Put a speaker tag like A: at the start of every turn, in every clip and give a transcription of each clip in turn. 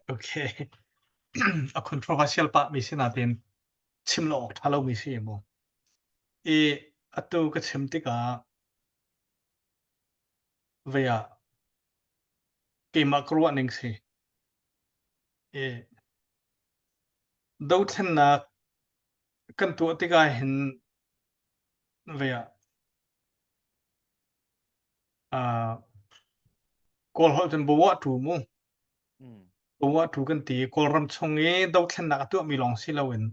A: Okay. A controversial pahmi si nain chim lo awk ṭha lomi si maw? I atu ka chim tikah vei ah keimah ka ruahning si. I dothlennak kan tuah tik ahhin vei ah Kawlholh kan bawa ṭhu mu. Bawa ṭhu kan ti. Kawlram chung i dothlennak a tuahmi lawng si loin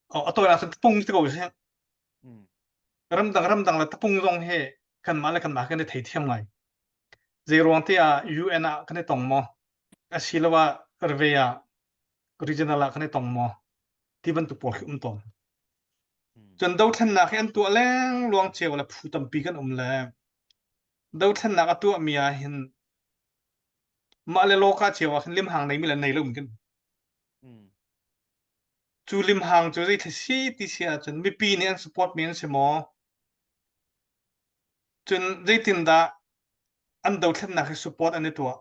A: a tawinak cu tapung ti ko sih. Ramdang ramdang le tapung zong hi kanmah le kanmah kan i theithiam ngai. Zeiruang tiah UN ah kan i tong maw? Asiloah Survey ah regional ah kan i tong maw? Ti bantuk pawl khi um tawn. Cun dothlennak hi an tuah lengluang cio le phu tampi kan um le dothlennak a tuahmi ah hin mah le lawka cio ah khin limhang neimi le nei lo in kan um. Cu limhang cu zei thil si ti si ahcun mipi nih an support mi an si maw? Cun zeitindah an dothlennak hi support an i tuah?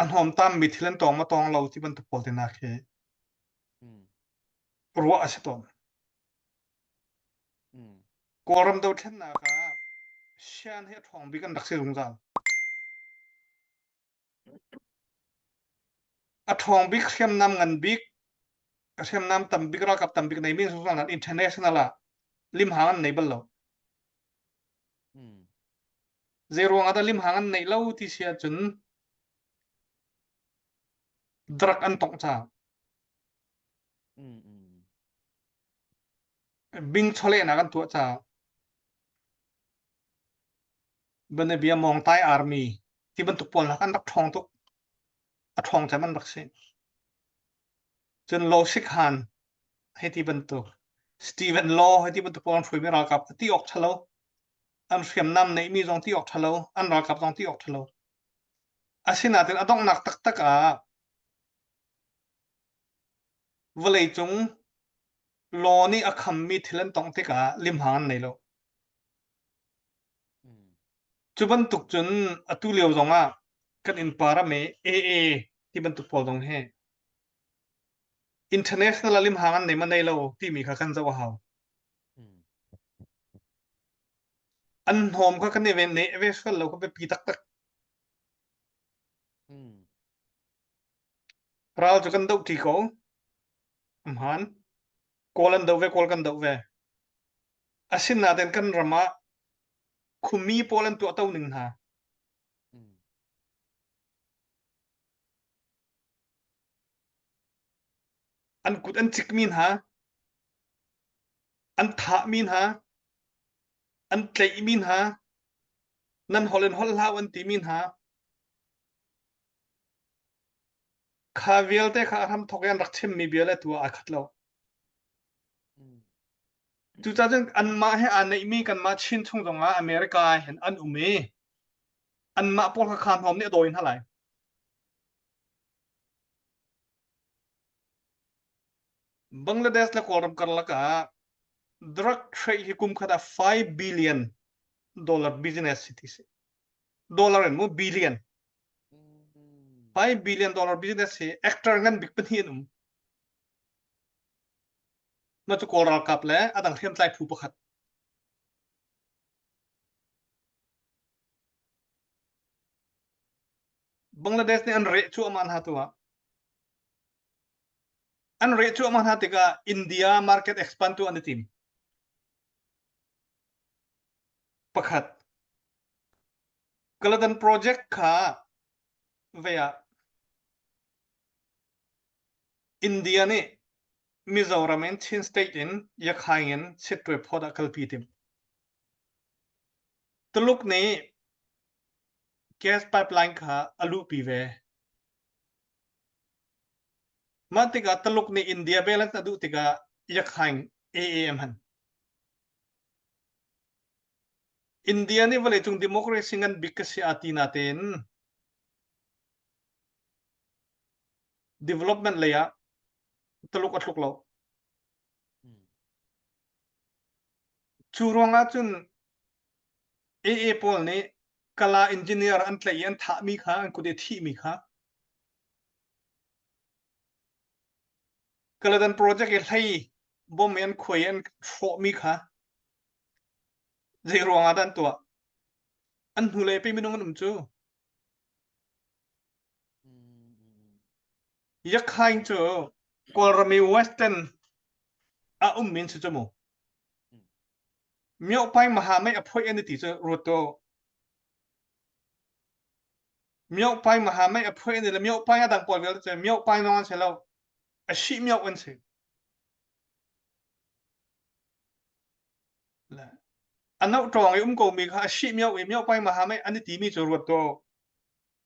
A: A hnawmtaammi thil an tawng maw tawng lo ti bantuk pawl tehna khi ruah a si tawn. Kawlram dothlennak ah sian hi a ṭhawng bik an rak si zungzal. A ṭhawng bik hriamnam ngan bik, hriamnam tam bik, ralkap tam bik nei min zungzal nan international ah limhang an nei bal lo. Zeiruang ah dah limhang an neih lo ti si ahcun drug an tongh cang. Bing chawlehnak an tuah cang. Banabia Mongtai Army ti bantuk pawl hna an rak ṭhawng tuk. A ṭhawng cem an rak si. Cun Law Sikhan hei ti bantuk, Stephen Law hei ti bantuk pawl an hruaimi ralkap kha ti awk ṭhalo, an hriamnam neihmi zong ti awk ṭhalo, an ralkap zong ti awk ṭhalo. Asinain a donghnak taktak ah vawleicung law nih a khammi thil an tongh tikah limhang an nei lo. Cu bantuk cun atu lio zong ah kan innpa ram i AA ti bantuk pawl zong hi international a limhang an nei maw nei lo timi kha kan zoh a hau. An hnawm kha kan i ven ne ve sual lo kha biapi taktak. Ral cu kan doh ṭi ko. Amhan. Kawl an doh ve, Kawl kan doh ve. Asinain kan ram ah khumi pawl an tuahto ning hna. An kut an cikmi hna, an thahmi hna, an tleihmi hna, nan holh in holh hlah an timi hna, Kha vialte kha a hramthawk i an rak chimmi bia le tu ah aa khat lo. Cucaah cun anmah he aa neihmi kanmah Chin chung zongah America ah hin an um i anmah pawl kha kha hnawm nih a dawi hna lai. Bangladesh le Kawlram karlak ah drug trade hi kum khat ah 5 billion dollar business hi ti a si. dollar in mu billion hai billion dollar business hi actor ngan bik pahnih an um mah cu kawl ralkap le adang hriamtlai phu pakhat Bangladesh nih an reh cuahmah hna tu ah an reh cuahmah hna tikah India market expand tu an i tim pakhat Kaladan Project kha vei ah India nih Mizoram in Chin State in Yakhaing in Sitwe phawt ah kalpi tim Tuluk nih gas pipeline kha a luhpi ve mah tikah Tuluk nih India balance a duh tikah Yakhaing AAM han India nih vawleicung democracy ngan bik ka si aa ti natein development lei ah Taluk a tluk lo. Cu ruang ahcun AA pawl nih kala engineer an tlaih i an thahmi kha an kut i thihmi kha Kaladan project i hlei bawm i an khuai i an hrawhmi kha zeiruang ah dah an tuah? An hnulei pei minung an um cu. Yakhain cu Kawlram i Western a ummi an si cu mu. Miopai maha mei a phoih an i ti cu ruat tuah. Miohpai maha mei a phuai an si le miohpai a dang pawl vialte cu miohpai lawng an si lo, a shi mioh an si. Le a no ṭawng i um komi kha a shi mioh i miohpai maha mei an i timi cu ruat tuah.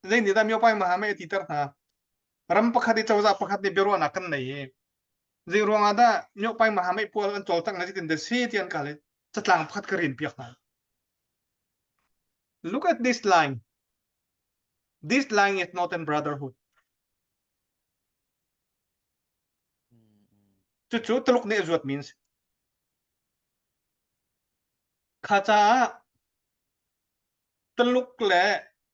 A: Zeinihdah miohpai maha mei a titer hna? Ram pakhat i cozah pakhat nih biaruahnak kan nei i zei ruangah dah miohpai maha mei pual an cawlcangh le zeitindah si ti an kal i catlang pakhat ka rinpiak hna. Look at this line. This line is not in brotherhood. Cucu Tuluk nih zuat means. Kha caah Tuluk le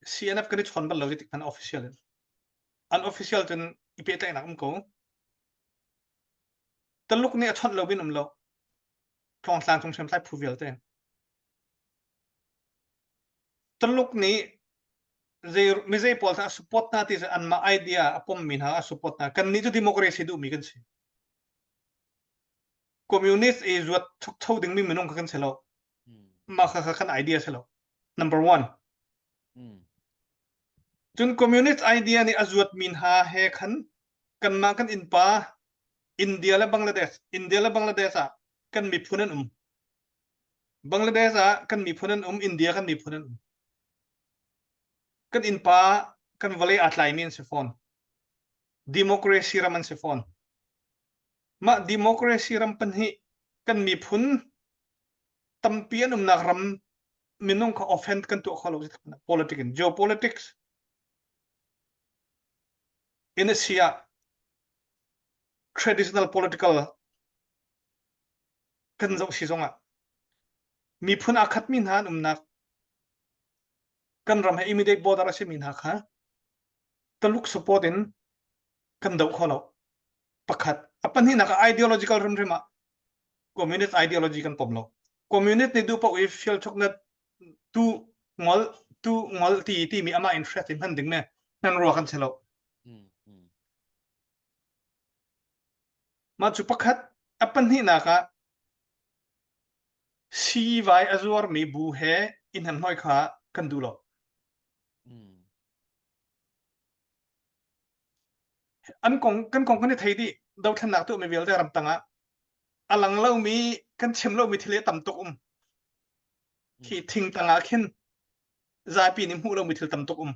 A: CNF kan i chon bal lo ti kan official in. Unofficial cun i pehtlaihnak um ko. Tuluk nih a chawnh lo bin um lo. Thong tlang chung sem thlai phu vialte. Tuluk nih mizei pawl hna a support hna ti anmah idea a pommi hna a support hna. Kannih cu democracy duhmi kan si. Communist i zuat thukcho dingmi minung kha kan si lo. Mah kha kan idea si lo. Number one. Cun communist idea nih a zuatmi hna he khan kanmah kan innpa India le Bangladesh, India le Bangladesh ah kan miphun an um. Bangladesh ah kan miphun an um, India kan miphun an um. Kan innpa kan vawlei aa tlaimi an si fawn. Democracy ram an si fawn. Mah democracy ram pahnih kan miphun tampi an umnak ram minung kha offend kan tuah kho lo politics in geopolitics in a si ah traditional political kan zoh si zongah miphun aa khatmi hna an umnak kan ram he immediate border a simi hna kha Taluk support in kan do kho lo. Pakhat, a pahnihnak ah ideological rimrim ah communist ideology kan pom lo. Communist nih duh paoh i fial choknat tu ngol tu ngol ti timi amah interest in hman ding ne nan ruwa kan se lo. Mah cu pakhat a pahnihnak ah siivai a zuarmi bu he i hnemhnawih kha kan duh lo. Mm. An kong kan kong kan i thei dih. Dothlennak tu mi vialte ram tangah a lang lomi kan chim lomi thil hi tam tuk um. Khi Mm. thing tangah khin zapi nih hmuh lomi thil tam tuk um.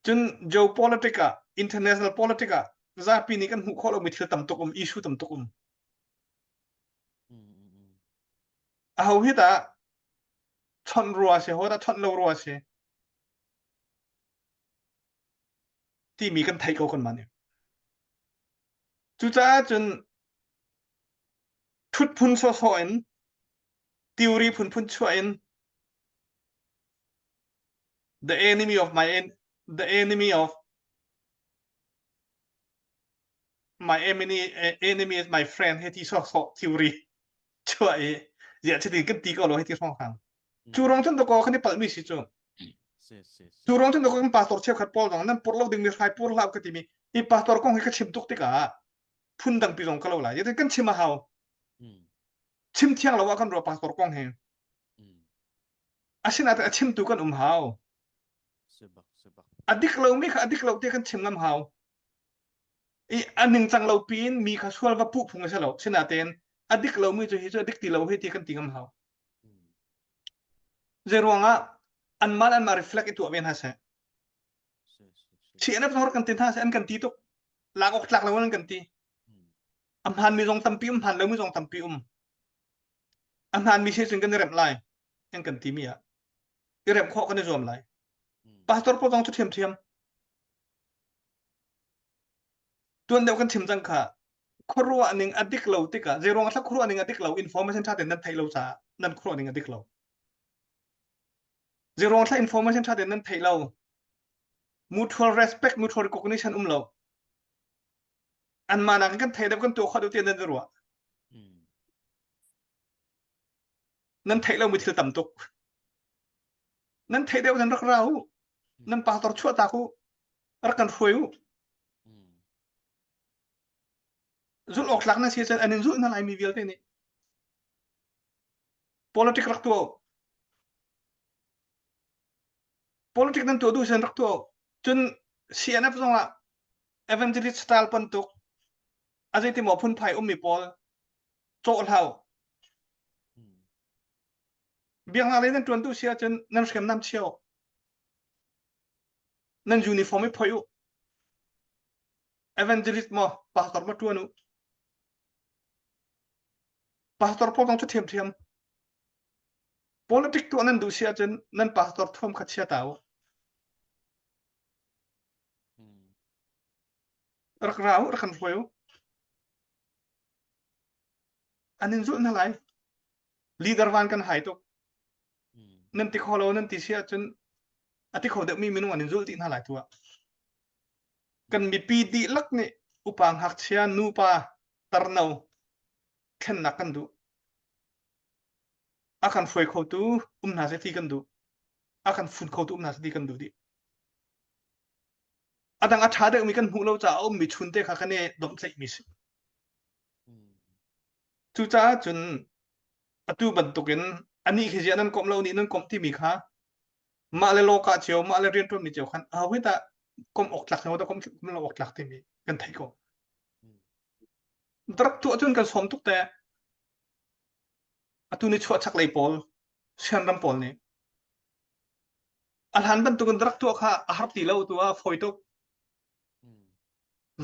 A: Cun jo politic ah, international politic ah zapi nih kan hmuh khawh lomi thil tam tuk um, issue tam tuk um. A ho hi tah chawnh rua si, ho tah chawnh lo rua si. Timi kan thei ko kan man i. Cucaah cun thut phun sawsawh in, teori phun phun chuah in, The enemy of my en- the enemy of my enemy enemy is my friend hi ti sawsawh theory chuah i ziah chitin kan ti ko lo hi ti hrawng hang cu rong cun to ko kan i palh mi si cu si si si cu rong cun to ko kan pastor cheu khat paul dong nan pur lo ding mi hrai pur hlau ka ti mi i pastor kong hi ka chim tuk tikah phun dang pi zong ka lo lai yet kan chim a hau Hmm. chim thiang lo ah kan ruah pastor kong hi Asinain a chimtu kan um hau. A dik lomi kha a dik lo tiah kan chim ngam hau. I a ningcang lo piin mi kha sual va puh phung a si lo. Sinain a dik lomi cu hi cu a dik ti lo hi ti kan ti ngam hau. Zei ruangah anmah le anmah reflect i tuah ve hna seh. Thi an hor kan ti hna seh an kan ti tuk. Lak awk tlak lo an kan ti. A hmaan mi zong tampi um, hmaan lomi zong tampi um. A hnaanmi si cun kan i remh lai, kan kan timi ah i remh khawh kan i zuam lai. Hmm. Pastor pawl zong cu ṭhiamṭhiam. Tuan deuh kan chim cang kha khuaruah ning a dik lo tikah zeiruang ah khuaruah ning a dik lo information ṭha tein nan theih lo caah nan khuaruah ning a dik lo. Zeiruang ah information ṭha tein nan theih lo mutual respect, mutual recognition um lo. anmah nakin kan thei deuh kan tuah kho deuh tiah nan i ruah nan theih lo mi thil tam tuk nan theih deuh nan rak ra u nan pastor chuah tak u rak kan hruai u zulh awk tlak na si cun an in zulh na lai mi vialte nih politic rak tuah politic nan tuah duh sen rak tuah cun CNF zong ah evangelist style bantuk a zeiti maw phunphai ummi pawl cawhhlau biaknak lei nan tuantu si ahcun nan hriamnam chio nan uniform i phoi u evangelist mo pastor ma tuan u pastor po bang cu thiam thiam politic tuah nan duh si ahcun nan pastor thuam kha chia ta u Rak ra u, rak kan hruai u. An in zulh hna lai. Leader van kan hai tuk. Nan ti kho lo, nan ti si ahcun a ti kho deuhmi minung an in zulh dih hna lai tu ah. Kan mipi dihlak nih upa ngakchia, nupa, tarno thlennak kan duh. A kan hruai khotu um hna seh ti kan duh. A kan fun khotu um hna seh ti kan duh dih. A dang a ṭha deuhmi kan hmuh lo caah a ummi chunte kha kan i domhthlaihmi a si. Cucaah cun atu bantukin anih khi ziah nan komh lo nih nan komh timi kha mah le law kah cio mah le rianṭuanmi cio khan a hoih dah komh awk tlak cio dah komh komh lo awk tlak timi kan theih ko. Rak tuah cun kan sawm tuk te atu ni chuah chaklei pawl sian ram pawl nih A hlan bantuk in rak tuah kha a har ti lo tu ah a fawi tuk.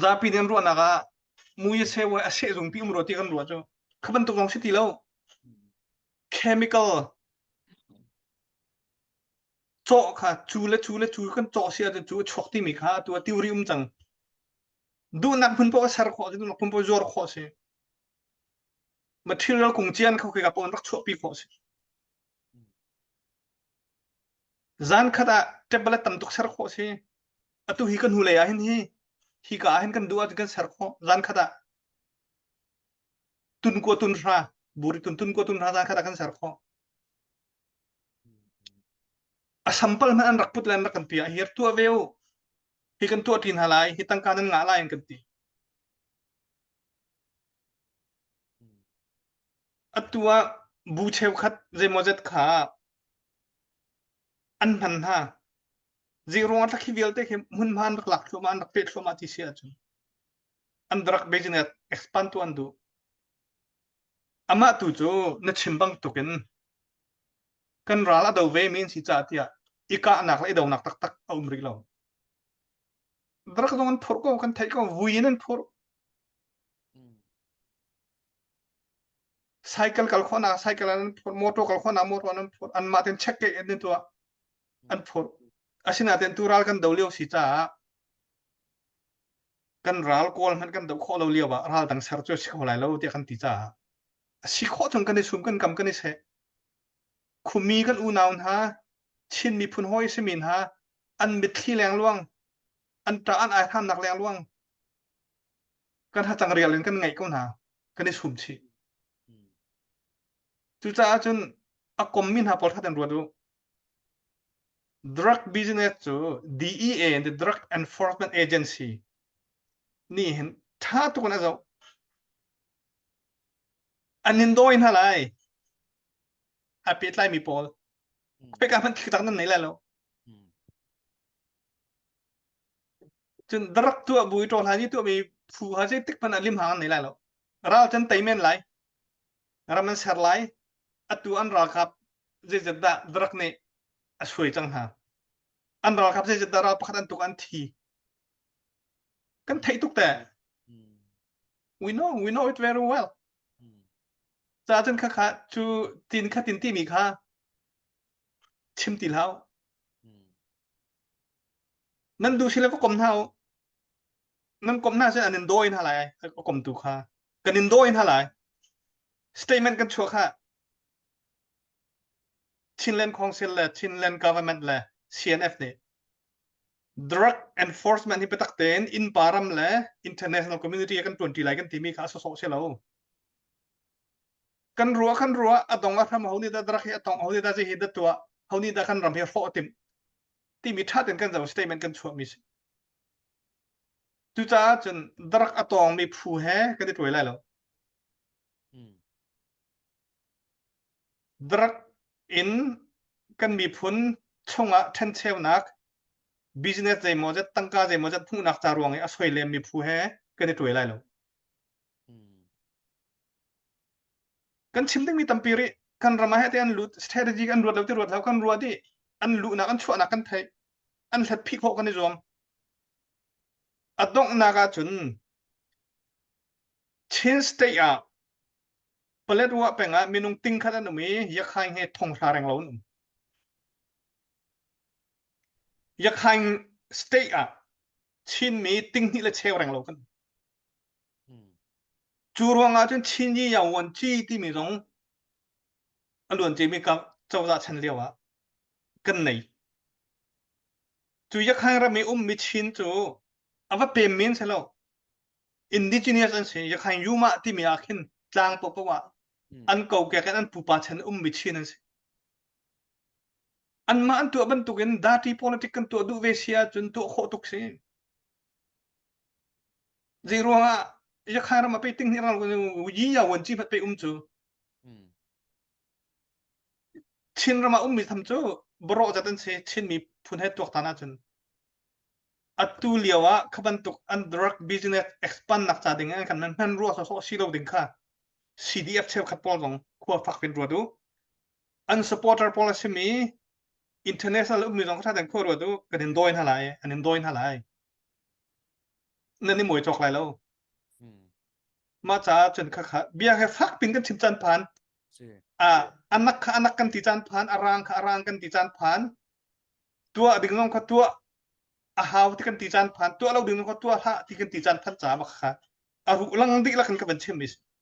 A: Zapi nih an ruahnak ah mui a seh voi a seh zung ti um rua ti kan rua cu. Kha bantuk zong si ti lo. Chemical cawh kha cu le cu le cu kan cawh si ahcun cu a chuak timi kha atu a tiuri um cang. Duhnak hmun paoh a ser khawh si, duhnak hmun paoh zuar khawh si. Material kung cian kha kha rak rak chuahpi khawh si. Zankhat ah tablet tam tuk ser khawh a si. Atu hi kan hnulei ahhin hi hika ahhin kan duh ahcun kan ser khawh zankhat ah. Tunkua tunhra, buri tuntun kua tunhra zankhat ah kan ser khawh. A sampal hmanh an rak put le an rak kan pi ah hi tuah ve u. Hi kan tuah ṭi hna lai, hi tangka nan ngah lai an kan ti. Atu ah bu cheukhat zeimaw zet kha an hman hna zei ruang ah khi vialte khi hmunhma an rak lak thluamah an rak pet thluamah ti si ahcun an rak business expand tu an duh amah tu cu na chim bangtuk in kan ral a do ve mi an si caah tiah i kahnak le i donak taktak a um rih lo rak zong an phurh ko kan theih ko vui in an phurh Cycle kal khawhnak, cycle an phawt, motor kal khawhnak, motor an phawt. Anmah ten check ke in tuah an phawt. Asinain tu ral kan do lio si caah kan ral kawl hmanh kan do khawh lo lio ah ral dang ser cu a si kho lai lo tiah kan ti caah a si khawh chung kan i sum kan kam kan i seh. Khumi kan unau hna, Chin miphun hawi simi hna, an mitthli lengluang, an ṭa an ai thannak lengluang, kan thlacang rial in kan ngaih ko hna kan i sum chih cucaah cun a kommi hna pawl that in ruat u drug business cu DEA and the Drug Enforcement Agency nih hin tha tuk an a zoh an in dawi hna lai a pehtlaimi pawl pekah hmanh thliktak nan nei lai lo cun darak tuah bui to hla ni tuah mi phu ha sei tik pan lim hang nei lai lo ral can tei men lai ram an ser lai atu an ralkap zei zat dah darak ne a sui cang hna an ralkap zei zat dah ral pakhat an tuk an thi kan thei tuk te we know we know it very well ca cun kha kha chu tin kha tin ti mi kha Chim ti hlah. Nan duh sile va kom hna u. Nan kom hna sin an in dawi hna lai a kom tu kha. Kan in dawi hna lai. Statement kan chuak ha. Chinland Council le Chinland government le CNF nih drug enforcement hi biatak tein innpa ram le international community kan tuanti lai kan timi kha a sosok si lo. kan ruah kan ruah a dong a hram ho ni da drak hi a tong ho ni da hi da tua ho ni da kan ram hi hrawh tim timi thatin kan zo statement kan chuah mi si cucaah cun drak a tong mi phu he kan i tuai lai lo drak in kan miphun chungah thencheunak business zeimaw zet tangka zeimaw zet hmuhnak ca ruang i a soi lem mi phu he kan i tuai lai lo kan chim dingmi tampi rih kan ram ah hete an lut strategy kan ruat lo ti ruat lo kan ruat i an luhnak an chuahnak kan theih an hlat phih khawh kan i zuam a donghnak ahcun Chin state ah Paletwa peng ah minung tingkhat an um i yakhaing he thonghra reng lo an um yakhaing state ah Chinmi tinghnih le cheu reng lo kan um. Cu ruangah cun Chin hi Yaowan Ci timi zong a luanciami cozah chan lio ah kan nei. Cu Yakhan ram i ummi Chin cu a va pem men si lo. Indigenous an si. Yakhan Yuma timi ah khin tlang paohpaoh ah an kokek in an pupa chan ummi Chin an si. Anmah an tuah bantukin dirty politics kan tuah duh ve si ahcun tuah khawh tuk si. Zeiruangah Yakhai ram a pei ting hnih ram Yiya wan chi pet pe um cu Chin ram a ummi tham cu boro zat an si Chin miphun he tuak tan ahcun atu lio ah kha bantuk an drug business expand nak ca ding an kan man hman rua so so si lo ding kha CDF cheukhat pawl zong khua fak in ruat u an supporter pawl a simi international ummi zong kha khuaruat ruat u kan in dawi hna lai an in dawi hna lai nan i mui cawk lai lo mah caah cun khakha bia he fak pin kan chim caan phan a anak kha anak kan ti caan phan a rang kha a rang kan ti caan phan tuah ding zong kha tuah a hau ti kan ti caan phan tuah lo ding zong kha tuah hlah ti kan ti caan phan caah ma khakha a ru lang dik la kan ka van chim is